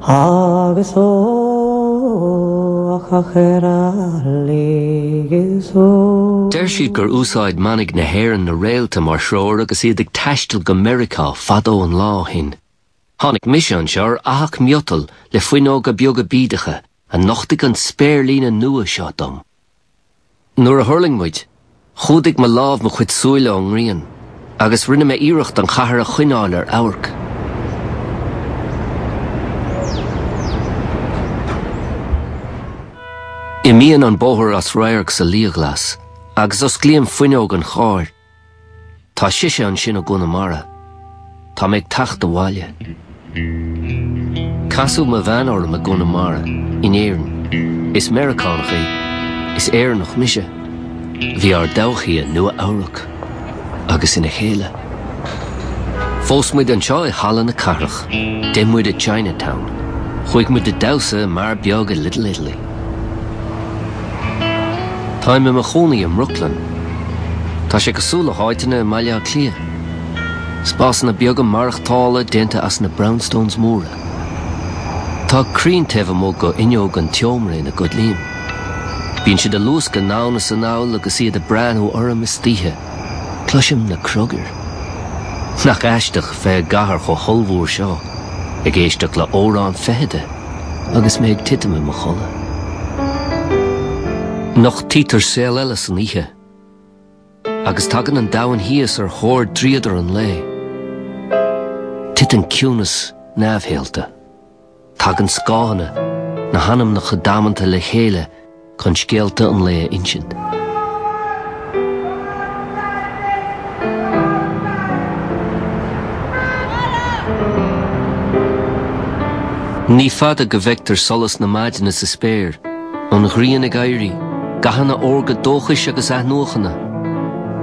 Agus ó ach ar a laoigh is ó. Deir siad gur úsáid manaigh na hÉireann na réalta mar threoir agus iad ag taisteal go Meiriceá fadó an lá ó shin. Tháinig mise anseo ar fhathach miotail le fuinneoga beaga bídeacha a nochtaigh an spéirlíne nua seo dom. Nuair a thuirling muid, chumhdaigh mo lámh mo chuid súile ón ngrian, agus rinne mé iarracht an chathair a choinneáil ar amharc. Imíonn an bóthar as radharc sa liathghlas, agus osclaíonn fuinneog an chairr. Tá sise ansin i gConamara. Tá mé ag teacht abhaile. Casadh mo bhean orm i gConamara, in Éirinn. Is Meiriceánach í. Is Éireannach mise. Bhí ár dtodhchaí i Nua-Eabhrac. Agus ina chéile. Phós muid anseo i Halla na Cathrach. D'ith muid i Chinatown. Chuaigh muid ag damhsa i mbeár beag i Little Italy. Táim i mo chónaí i mBrooklyn. Tá sé cosúil le háiteanna i mBaile Átha Cliath. Spásanna beaga maireachtála déanta as na brownstones móra. Tá crainn taobh amuigh d'fhuinneog an tseomra ina gcodlaím. Bíonn siad ag luascadh anonn is anall agus iad ag breathnú orm istoíche. Cloisim na criogair. Nach aisteach bheith i gcathair chomh hollmhór seo ag éisteacht le amhrán feithide agus mé ag titim i mo chodladh. Nochtaítear saol eile san oíche agus tagann an domhan thíos ar thóir dríodar an lae. Titeann ciúnas neamhshaolta. Tagann scáthanna, na hanamnacha damanta le chéile chun scéalta an lae a insint. Ní fada go bhfeictear solas na maidine sa spéir, an ghrian ag éirí, gathanna órga dóchais agus athnuachana.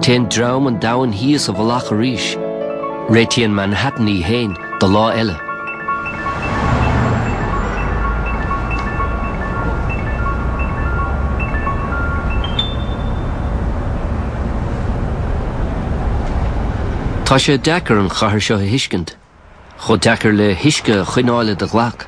Téann dream an domhain thíos i bhfolach arís. Réitíonn Manhattan í fhéin. do lá eile. Tá sé deacair an chathair seo a thuiscint, chomh deacair le huisce a choinneáil i do ghlac.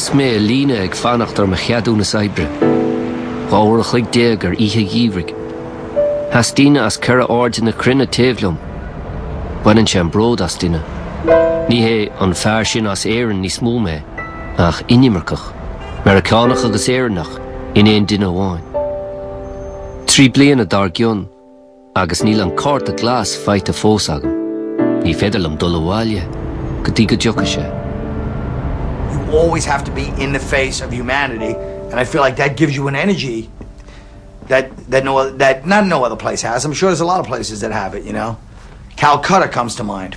Sheas mé i líne ag fanacht ar mo cheadúnas oibre. Dhá uair a chloig déag ar oíche gheimhridh. Sheas daoine as ceithre hairde na cruinne taobh liom. Baineann sé an bród as duine. Ní hé an fear sin as Éirinn níos mó mé, ach inimirceach, Meiriceánach agus Éireannach in aon duine amháin. Trí bliana dár gcionn. Agus níl an cárta glas faighte fós agam. Ní féidir liom dul abhaile go dtí go dtiocfaidh sé. You always have to be in the face of humanity and I feel like that gives you an energy that that no that not no other place has. I'm sure there's a lot of places that have it, you know. Calcutta comes to mind.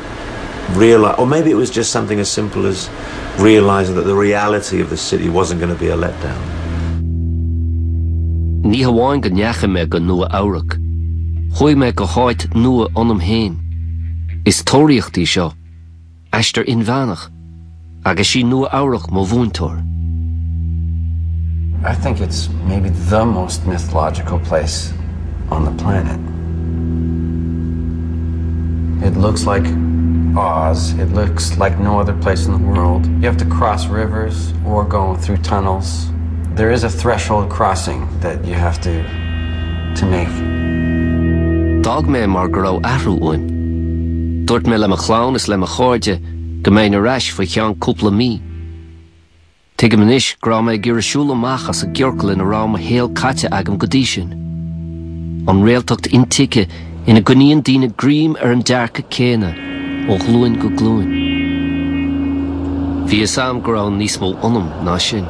reali or maybe it was just something as simple as realizing that the reality of the city wasn't going to be a letdown. Ní hamháin go ndeachaigh mé go Nua-Eabhrac, chuaigh mé go háit nua ionam féin. Is tóraíocht í seo, aistear inmheánach. Agus sí Nua Eabhrac mo mhúinteoir. I think it's maybe the most mythological place on the planet. It looks like Oz, it looks like no other place in the world. You have to cross rivers or go through tunnels. There is a threshold crossing that you have to to make. D'fhág mé mar go raibh athrú uaim. Dúirt mé le mo chlann is le mo chairde go mbeinn ar ais faoi cheann cúpla mí. Tuigim anois go raibh mé ag iarraidh siúl amach as an gciorcal ina raibh mo shaol caite agam go dtí sin. An réaltacht intuigthe ina gcoinníonn daoine greim ar an dearcadh céanna ó ghlúin go glúin. Bhí fhios agam go raibh níos mó ionam ná sin.